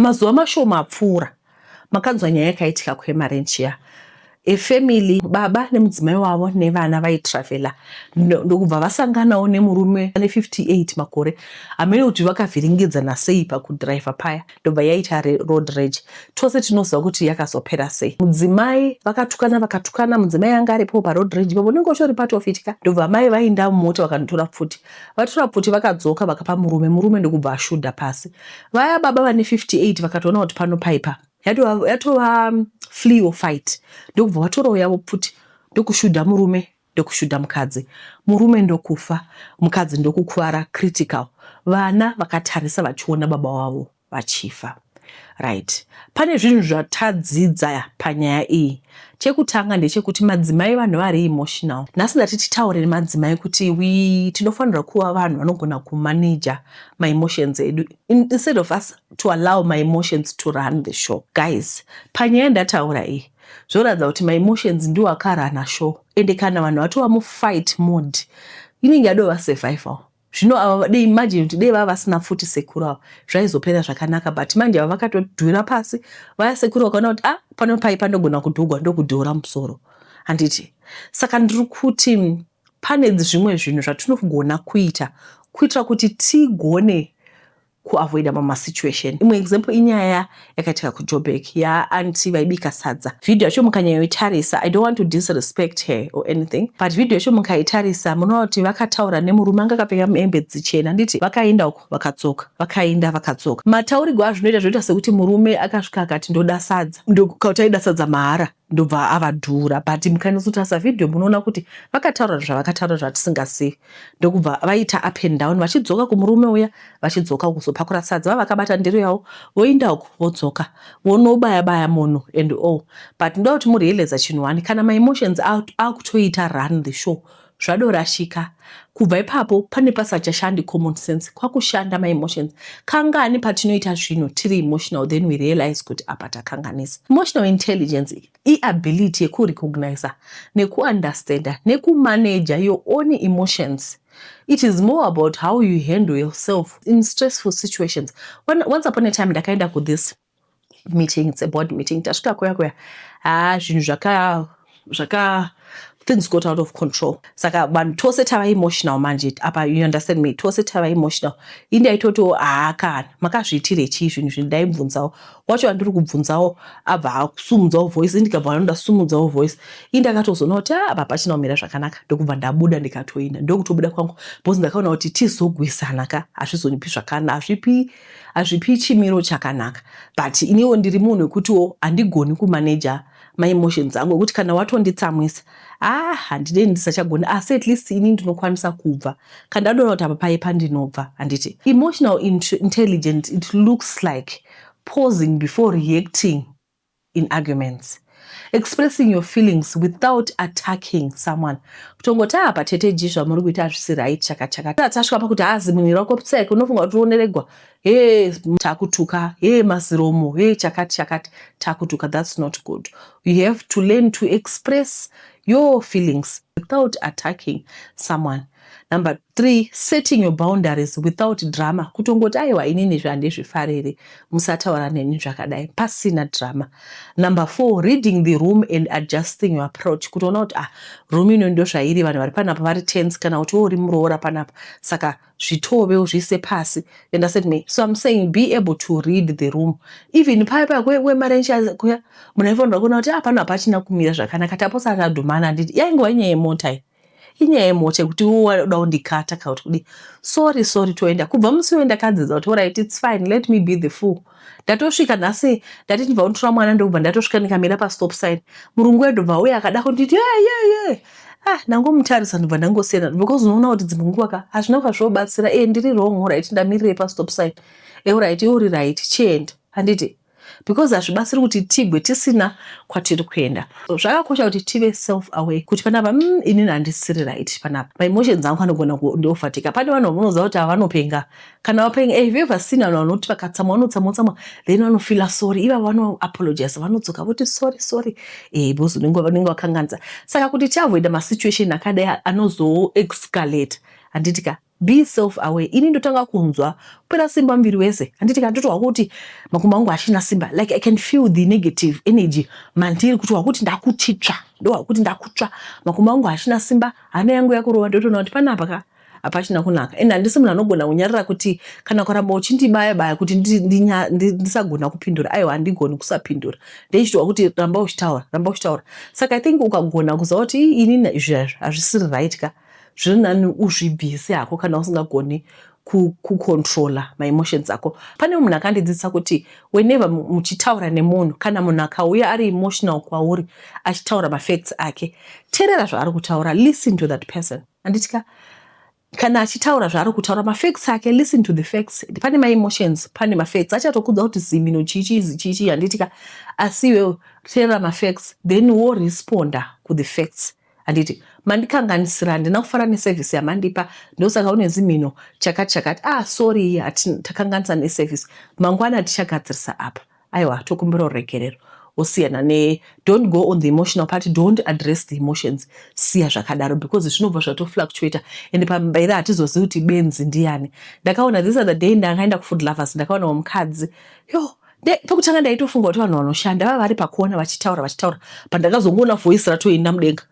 Mazuva mashoma apfuura, makanzwa nyaya yakaitika kuEmarentia. A family, baba nemudzimai wavo nevana vaitravela ndokubva vasanganawo nemurume ane 58 makore amene kuti vakavhiringidzana sei pakudhiraivha paya ndobva yaita road rage. Tose tinoziva kuti yakazopera sei. Mudzimai vakatukana vakatukana, mudzimai anga aripo paroad rage ipapo, unenge uchitori part of it ka. Ndobva mai vainda mumota vakanotora pfuti Vatura pfuti vakadzoka vakapa murume, murume ndokubva ashudha pasi. Vaya baba vane 58 vakatoona kuti pano paipa yatova yatova mm, flee or fight ndokubva vatorawo yavo pfuti ndokushudha murume ndokushudha mukadzi murume ndokufa mukadzi ndokukuvara critical vana vakatarisa vachiona baba wavo vachifa. Right pane zvinhu zvatadzidza panyaya iyi. Chekutanga ndechekuti madzimai vanhu vari emotional. Nhasi ndati titaure nemadzimai kuti we tinofanirwa kuva vanhu vanogona kumanager my emotions edu instead of us to allow my emotions to run the show. Guys, panyaya ndataura iyi zvoratidza kuti my emotions ndiwo akarana show ende kana vanhu vatova mufight mode inenge yadova survival. zvino ava dei imagine kuti dei vava vasina futi sekuru ava zvaizopera zvakanaka but manje ava vakatodhura pasi vaya sekuru vakaona kuti ah pano pai panogona kudhugwa ndokudhura musoro handiti saka ndiri kuti pane zvimwe zvinhu zvatinogona kuita kuitira kuti tigone kuavoida mama situation imwe example inyaya yakaitika kujobek yaanti vaibika sadza video yacho mukanyayoitarisa i don't want to disrespect her or anything but video yacho mukaitarisa munoona kuti vakataura nemurume anga akapfeka hembe dzichena nditi vakaenda uko vakadzoka vakaenda vakadzoka mataurigwa azvinoita zvinoita sekuti murume akasvika akati ndoda sadza ndokauti aida sadza mahara ndobva avadhura but mukanyatsotasa video munoona kuti vakataura zvavakataura zvatisingazivi ndokubva vaita up and down vachidzoka kumurume uya vachidzoka kuzopakura sadza vavakabata ndiro yavo voinda uku vodzoka vonobaya baya munhu and all but ndoda kuti murealize chinhu one kana maemotions akutoita run the show out, zvadorashika kubva ipapo pane pasachashandi common sense kwakushanda ma emotions kangani patinoita zvinhu tiri emotional then we realize kuti apa takanganisa emotional intelligence iability yekurecogniza nekuunderstanda nekumanaja your own emotions it is more about how you handle yourself in stressful situations once upon a time ndakaenda kuthis meeting it's a board meeting tasvika kuya kuya haa zvinhu zvaka zvaka things got out of control saka vanhu tose tava emotional manje apa you understand me tose tava emotional ini ndaitotiwo haa kana makazviitire chii zvinhu zvinhu ndaibvunzawo wacho andiri kubvunzawo abva asumudzawo voice indikabva anoda sumudzawo voice ini ndakatozoona kuti a ah, apa pachina kumira zvakanaka ndokubva ndabuda ndikatoinda ndokutobuda kwangu bcause ndakaona kuti tizogwisana ka hazvizonipi zvakana hazvipi hazvipi chimiro chakanaka but iniwo ndiri munhu wekutiwo handigoni kumanager maemotions angu ekuti kana watonditsamwisa ah handide ndisachagoni asi at least ini ndinokwanisa kubva kandadona kuti apa paye pandinobva handiti emotional intelligent it looks like pausing before reacting in arguments expressing your feelings without attacking someone kutongoti haa patete ji zvamuri kuita hazvisi right chakachaka tasvika pakuti haa zimunhu rako psek unofunga kuti unoregwa he takutuka he maziromo he chakati chakati takutuka thats not good you have to learn to express your feelings without attacking someone number Three, setting your boundaries without drama, kutongoti aiwa inini izvi handizvifariri, musataura neni zvakadai pasina drama. Number four, reading the room and adjusting your approach, kutoona kuti ah, room ino ndozvairi, vanhu vari panapa vari tense, kana kuti uri muroora panapa, saka zvitove uzviise pasi. You understand me? So I'm saying be able to read the room. Even paya paya kwemarenji kuya, munhu aifanirwa kuona kuti ah, pano hapachina kumira zvakanaka, taposa tadhumana handiti, yaingova nyaya yemota iyi. inyaya yemota yekuti iwe waida kundikata kana kuti kudii sorry sorry toenda kubva musi uyo ndakadzidza kuti orit its fine let me be the fool ndatosvika nhasi ndati ndibva kunditora mwana ndokubva ndatosvika ndikamira pastop sign murungu wedu bva uye akada kunditi yeyeye ah ndangomutarisa ndibva ndangosiyana because unoona kuti dzimwe nguva ka hazvina kuva zvobatsira e eh, ndiri wrong orit ndamirirei pastop sign eorit eh, iwe uri right chienda handiti because hazvibatsiri kuti tigwe tisina kwatiri kuenda zvakakosha kuti tive self away kuti panapa mm, inini handisiri right panapa maemotions angu anogona ndiofatika pane vanhu vanoziva kuti havanopenga kana vapenga eh, have ever seen vanhu vanoti vakatsamwa vanotsamwa tsamwa then vanofila sorry iva vanoapologize vanodzoka voti sorry sorry eh, because unenge wakanganisa saka kuti tiavoida masituation akadai anozoexcalate handiti ka Be self aware ini ndotanga kunzwa kupera simba muviri wese handiti kana ndotohwa kuti makumbo angu hachina simba like i can feel the negative energy mandiri kutohwa kuti ndakutitsva ndohwa kuti ndakutsva makumbo angu hachina simba hana yangu yakurova ndotoona kuti panapa ka hapachina kunaka and handisi munhu anogona kunyarira kuti kana kuramba uchindibaya baya kuti ndisagona kupindura aiwa handigoni kusapindura ndeichitohwa kuti ramba uchitaura ramba uchitaura saka i think ukagona kuziva kuti ini izvi hazvisiri right ka zviri nani uzvibvise hako kana usingagoni kucontrola maemotions ako pane munhu akandidzidzisa kuti whenever muchitaura nemunhu kana munhu akauya ari emotional kwauri achitaura mafacts ake terera zvaari kutaura listen to that person anditika kana achitaura zvaari kutaura mafacts ake listen to the facts pane maemotions pane mafacts achatokudza kuti zimino chiichizi chiichii handitika asi iwewo terera mafacts then woresponda kuthe facts handiti mandikanganisira handina kufara neservice yamandipa ndosaka une zimhino chakati chakati ah sorry takanganisa neservice mangwana tichagadzirisa apa aiwa tokumbira uregerero osiyana ne don't go on the emotional part don't address the emotions siya zvakadaro because zvinobva zvatofluctuata and pambaira hatizozivi kuti benzi ndiyani ndakaona this other day ndakaenda kufood lovers ndakaona wamukadzi yo pekutanga ndaitofunga kuti vanhu vanoshanda vava vari pakuona vachitaura vachitaura pandakazongoona voice ratoenda mudenga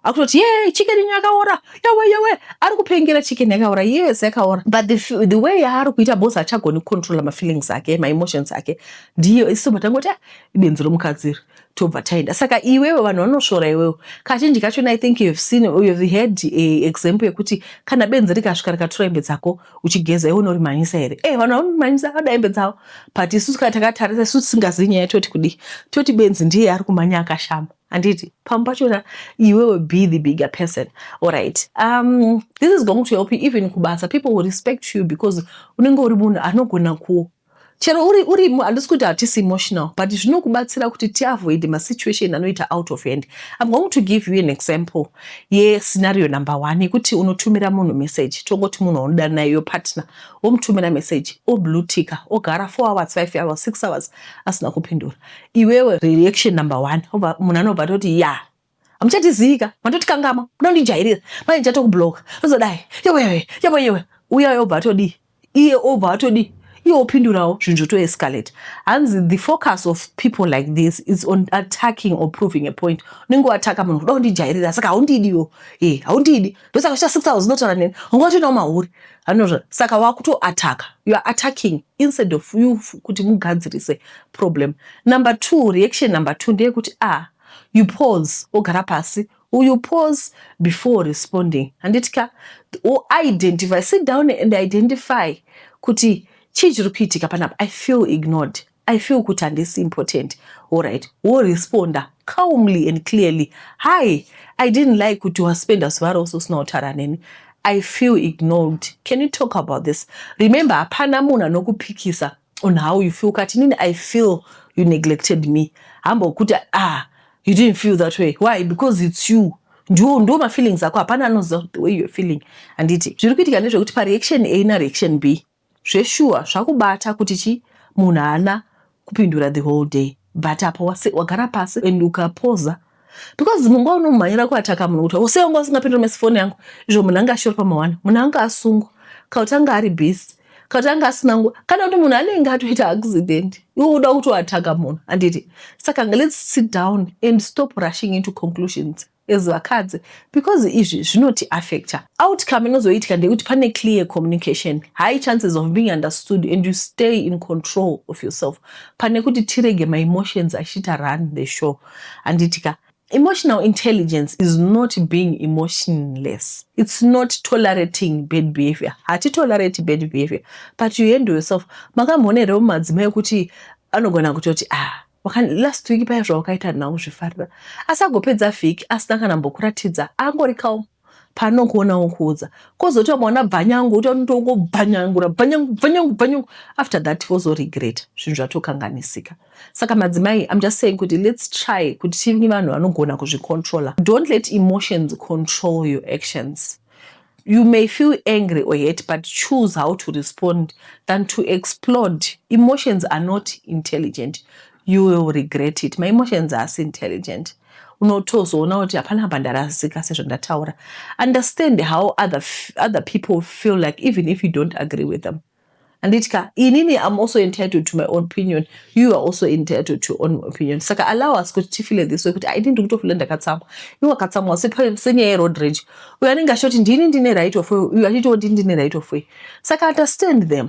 akutoti ye chicken inyo yakaora yawe yawe ari kupengera chicken yakaora yes yakaora but the, the way yaari kuita bos achagoni kucontrola mafeelings ake maemotions ake ndiyo iso matangoti ah, ibenzi romukadziri tobva taenda saka iwewe vanhu vanosvora iwewe kachinji kacho i think you've seen you've heard a example yekuti kana benzi rikasvika rikatura hembe dzako uchigeza iwe unorimhanyisa here e eh, vanhu vanorimhanyisa vada hembe dzavo but isu kana takatarisa isu tisingazivi nyaya toti kudii toti benzi ndiye ari kumhanya akashama handiti pamwe pachona iwewe be the bigger person allright um, this is going to help you even kubasa people will respect you because unenge uri munhu anogona ku chero uri uri handisi kuti hatisi emotional but zvinokubatsira kuti tiavoide masituation anoita out of hand im going to give you an example yescenario number one yekuti unotumira munhu message tongoti munhu waunoda naye yo partner womutumira message oblutika ogara four hours five hours six hours asina kupindura iwewe reaction number one munhu anobva toti ya hamuchatiziika matotikangama kuda kundijairira manje chatokubloka tozodai yewewe yewe yewe uya yobva atodii iye obva atodii iye opindurawo zvinhu zvotoescalate hanzi the focus of people like this is on attacking or proving a point unenge wataka munhu kuda kundijairira saka haundidiwo e eh, haundidi ndosaka chita six hours unotaura neni unga watoinawo mahuri anozva saka wakutoataka you are attacking instead of you kuti mugadzirise problem number two reaction number two ndeyekuti ah You pause wogara pasi or you pause before responding. Handiti ka? Or identify, sit down and identify kuti chii chiri kuitika panapa. I feel ignored. I feel kuti handisi important. Alright, woresponda calmly and clearly. Hi, I didn't like kuti waspenda zuva rose usina kutaura neni. I feel ignored. Can you talk about this? Remember, hapana munhu anokupikisa on how you feel ukati inini i feel you neglected me hamba ukuti ah you didn't feel that way why because it's you ndiwo ndiwo mafeelings ako hapana anoziva the way you're feeling handiti zviri kuitika ndezvekuti pareaction a nareaction b zveshuwa zvakubata kuti chi munhu haana kupindura the whole day but apo wagara pasi and ukapoza because mumba unomhanyira kuataka munhu kuti sei wanga usingapindira mesi foni yangu izvo munhu anga ashori pamawana munhu anga asungwa kauti anga ari busy kauti anga asina nguva kana kuti munhu anenge atoita accident iwe uda kuti uataka munhu handiti saka let's sit down and stop rushing into conclusions as vakadzi because izvi zvinoti affecta outcome inozoitika ndeyekuti pane clear communication high chances of being understood and you stay in control of yourself pane kuti tirege maemotions achiita run the show handiti ka Emotional intelligence is not being emotionless. It's not tolerating bad behavior. Hati tolerate bad behavior. But you handle yourself. Makamhone reo madzimai kuti anogona kutoti ah last week paya zvawakaita nhau zvifarira asi agopedza vhiki asina kana mbokuratidza angori calm panokuona wokuudza kozoti wamwana bvanyangu utonotongobvanyangura bvanyangu bvanyangu bvanyangu after that wozoregreta zvinhu zvatokanganisika saka madzimai im just saying kuti let's try kuti tive vanhu vanogona kuzvicontrola don't let emotions control your actions you may feel angry or hate but choose how to respond than to explode emotions are not intelligent You will regret it. My emotions haasi intelligent. Unotozoona kuti hapana apa ndarasika sezvandataura. Understand how other, other people feel like even if you don't agree with them. Anditi ka inini I'm also entitled to my own opinion. You are also entitled to your own opinion. Saka allow us kuti tifile this way kuti ini ndiri kutofila ndakatsamwa. Iwe wakatsamwa senyaya yeroad rage. Uyo anenge achitoti ndini ndine right of way. Uyo achitoti ndine right of way. Saka understand them.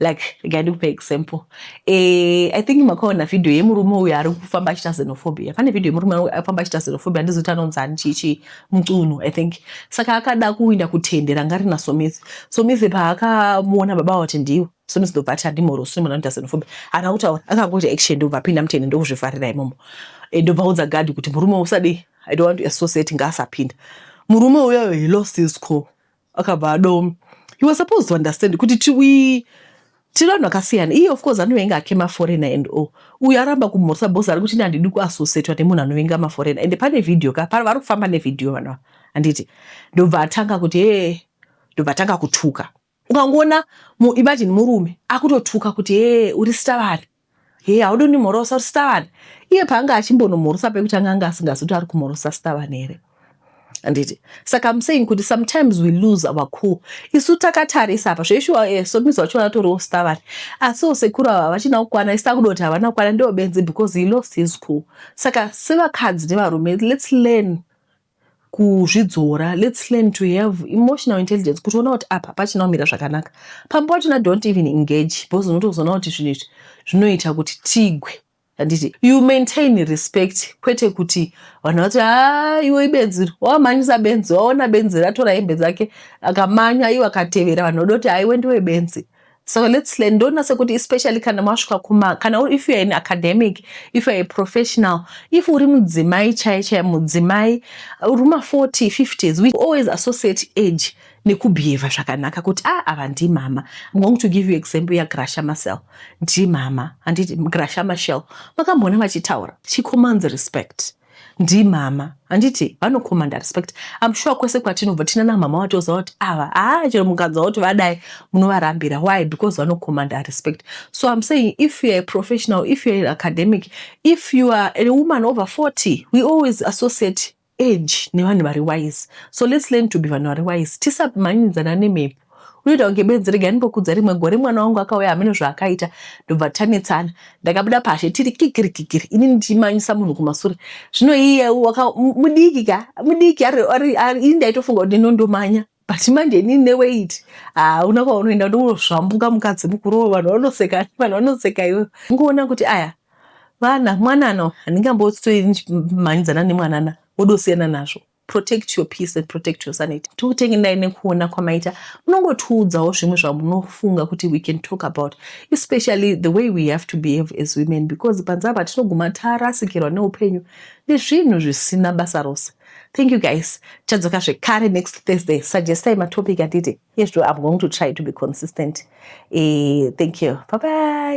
like regai ndikupa example eh, i think makaona vhidhiyo yemurume uyo ari kufamba achita xenophobia pane vhidhiyo yemurume afamba achita xenophobia handizoti anonzani chichi mucunu i think saka akada kuinda kutende ranga rina somizi somizi paakamuona baba vati ndiwo somizi ndobva ati handimorosini mwana anoita xenophobia haana kutaura akangoita action ndobva apinda mutende ndokuzvivharira imomo eh, ndobva audza gadhi kuti murume usadii i don't want to associate ngaasapinda murume uyoyo he lost his call akabva adoma he was supposed to understand kuti tiwi tiri vanhu vakasiyana iye of course anovenga ake maforena and o uyo aramba kumhorisa bos ari kuti nandidi kuasosetwa nemunhu anovenga maforena ende pane vhidhiyo ka pano vari kufamba nevhidhiyo vanava handiti ndobva atanga kuti ee ndobva atanga kutuka ukangoona imagine murume akutotuka kuti ee uri sita vanhu Hee haudi kundimhorosa kuti Stavani iye paanga achimbonomhorosa pekuti anga anga asingazi kuti ari kumhorosa Stavani here anditi saka I'm saying kuti sometimes we lose our cool isu takatarisa apa zveshuwa eh, somizi wacho vanatoriwo Stavani asiwo sekuru ava vachina kukwana isi takuda kuti havana kukwana ndiwo benzi because he lost his cool saka sevakadzi nevarume let's learn kuzvidzora let's learn to have emotional intelligence kuti ona kuti apa pachina kumira zvakanaka pamba wachona don't even engage because unotozoona kuti zvinhu izvi zvinoita kuti tigwe handiti you maintain respect kwete kuti vanhu vati haa ah, iwe ibenzi wamhanyisa benzi waona benzi ratora hembe dzake akamanya iwe akatevera vanhu voda kuti haiwe ndiwe benzi So let's learn. Don't say kuti especially kana masvika kuma kana if you are an academic, if you are a professional, if uri mudzimai chai chai mudzimai uri ma 40, 50s, we always associate age nekubehave zvakanaka kuti ah ava ndimama. I'm going to give you example ya Gracia Marcel. Ndimama, handiti Gracia Marcel. Makamboona vachitaura. She commands respect. ndimama handiti vanocommanda respect am sure kwese kwatinobva tinana mama vatoziva kuti ava haa chero mukanzwa kuti vadai munovarambira why because vanocommanda respect so am saying if youare professional if youare academic if you are a woman over 40 we always associate age nevanhu vari wise so let's learn to be vanhu vari wise tisamhanyidzana nemhepo unoita kunge benzi regai ndimbokudza rimwe gore mwana wangu akauya hameno zvaakaita ndobva tanetsana ndakabuda pashe tiri kikirikikiri ini ndichimanyisa munhu kumasure zvino iye mudiki ka mudiki ini ndaitofunga kuti ndinondomanya but manje ini neweiti hauna ah, kwaunoenda ndozvambuka mukadzi mukuru vanhu vanoseka vanhu vanoseka iwe ngoona kuti aya vana mwanana handingambotsoi ndichimhanyidzana nemwanana wodosiyana nazvo protect your peace and protect your sanity tikutengendai nekuona kwamaita munongotiudzawo zvimwe zvamunofunga kuti we can talk about especially the way we have to behave as women because panze apa tinoguma tarasikirwa neupenyu nezvinhu zvisina basa rose thank you guys tichadzoka zvekare next thursday suggestai matopic atiti yes i'm going to try to be consistent e, thank you bye bye